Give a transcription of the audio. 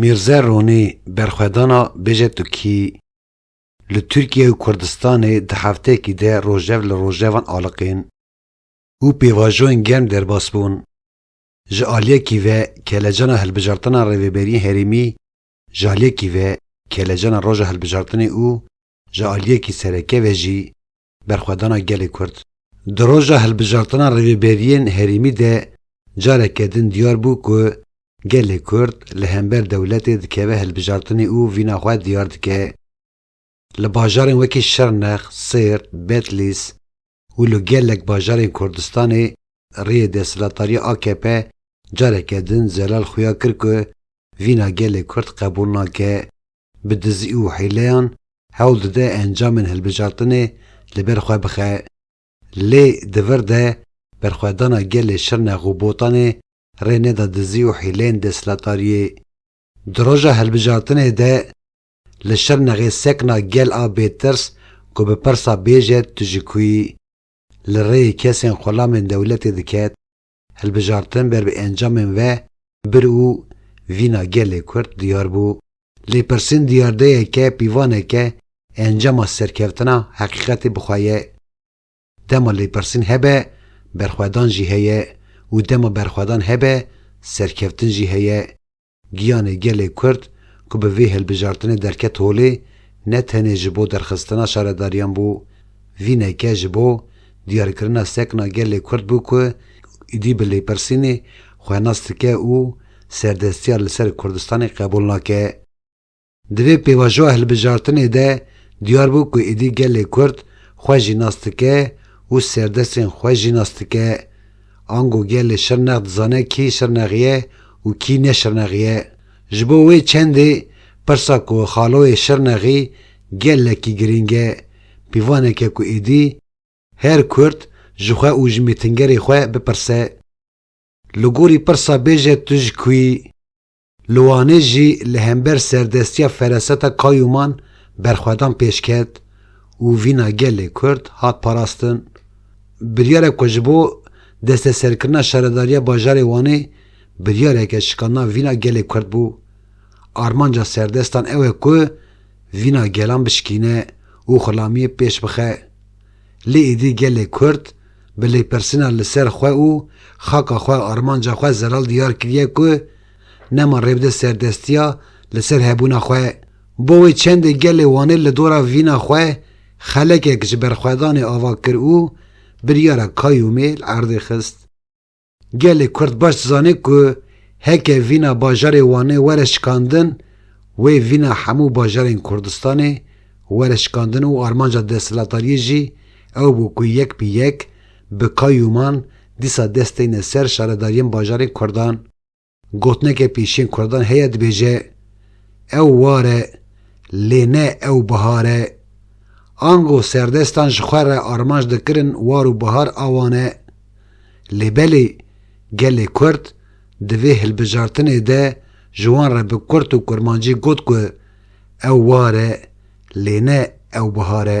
Mîrze Ronî berxwedana bêje tu kî li Tirkiye û Kurdistanê di hefteyekî de rojev li rojevan aliqîn û pêvajoyên germ derbas bûn. Ji aliyekî ve kelecana hilbijartina rêveberiyên herêmî Ji aliyekî ve kêlecana roja hilbijartinê û ji aliyekî sereke ve jî berxwedana gelê Kurd. Di roja hilbijartina rêvebêriyên herêmî de careke din diyar bû ku gelê Kurd li hember dewletê dikeve hilbijartinê û vîna xwe diyar dike. Li bajarên wekî Şirnex, Sêrt, Betlîs, û li gelek bajarên Kurdistanê rêyê desthilatdarîya akp careke din zelal xuya kir ku vîna gelê Kurd qebûl nake, bi dizî û hîleyan hewl dide encamên hilbijartinê li ber xwe bixe. Lê di vir de berxwedana gelê Şirnex û Botanê rê neda dizî û hîleyên desthilatdarîyê. Di roja hilbijartinê de Li Şirnexê sekna gel a bêtirs ku bi pirsa bêje tu ji ku yî, li rêyê kesên xulamên dewletê diket, hilbijartin ber bi encamên ve bir û vîna gelê Kurd diyar bû. Lêpirsîn diyardeyeke pîvaneke encama serkeftina heqîqetê bi xwe ye. Dema lêpirsîn hebe, berxwedan jî heye û dema berxwedan hebe, serkeftin jî heye. Giyanê gelê Kurd ku bi vê hilbijartinê derket holê ne tenê ji bo derxistina şaredariyan bû, vîneke ji bo diyarkirina sekna gelê Kurd bû ku êdî bi lêpirsînê xwe nas dike û serdestiya li ser Kurdistanê qebûl nake. Di vê pêvajoya hilbijartinê de diyar bû ku êdî gelê Kurd xwe jî nas dike û serdestên xwe jî nas dike. Ango gelê Şirnex dizane kî Şirnexî ye û kî ne Şirnexî ye. Ji bo wê çendê pirsa ku xaloyê Şirnexî gelekî girîng e, pîvaneke ku êdî her Kurd ji xwe û ji mîtingerê xwe bipirse. Li gorî pirsa bêje tu ji ku yî? Li Wanê jî li hember serdestiya fereseta Kayûman berxwedan pêş ket û vîna gelê Kurd hat parastin. Biryarek ku ji bo desteserkirina şaredariya bajarê Wanê biryareke şikandina vîna gelê Kurd bû. Armanca serdestan ew e ku vîna gelan bişikîne û xulamiyê pêş bixe. Lê êdî gelê Kurd bi lêpirsîna li ser xwe û xaka xwe, armanca xwe zelal diyar kiriye ku nema rê bide serdestiya li ser hebûna xwe. Bo wê çendê gelê Wanê li dora vîna xwe xelekek ji berxwedanê ava kir û biryara Kayûmê li erdê xist. Gelê Kurd baş dizane ku heke vîna bajarê Wanê were şikandin wê vîna hemû bajarên Kurdistanê were şikandin û armanca desthilatariyê jî ew bû ku yek bi yek bi kayûman dîsa dest teyne ser şaredariyên bajarên Kurdan. Gotineke pêşên kuradan heye dibêje, Ew war e, lê ne ew bihar e. Ango serdestan ji xwe re armanc dikirin war û bihar a wan e. Lê belê gelê kurd di vê hilbijartinê de ji wan re bi kurt û kurmancî got ku ew war e, lê ne ew bihar e.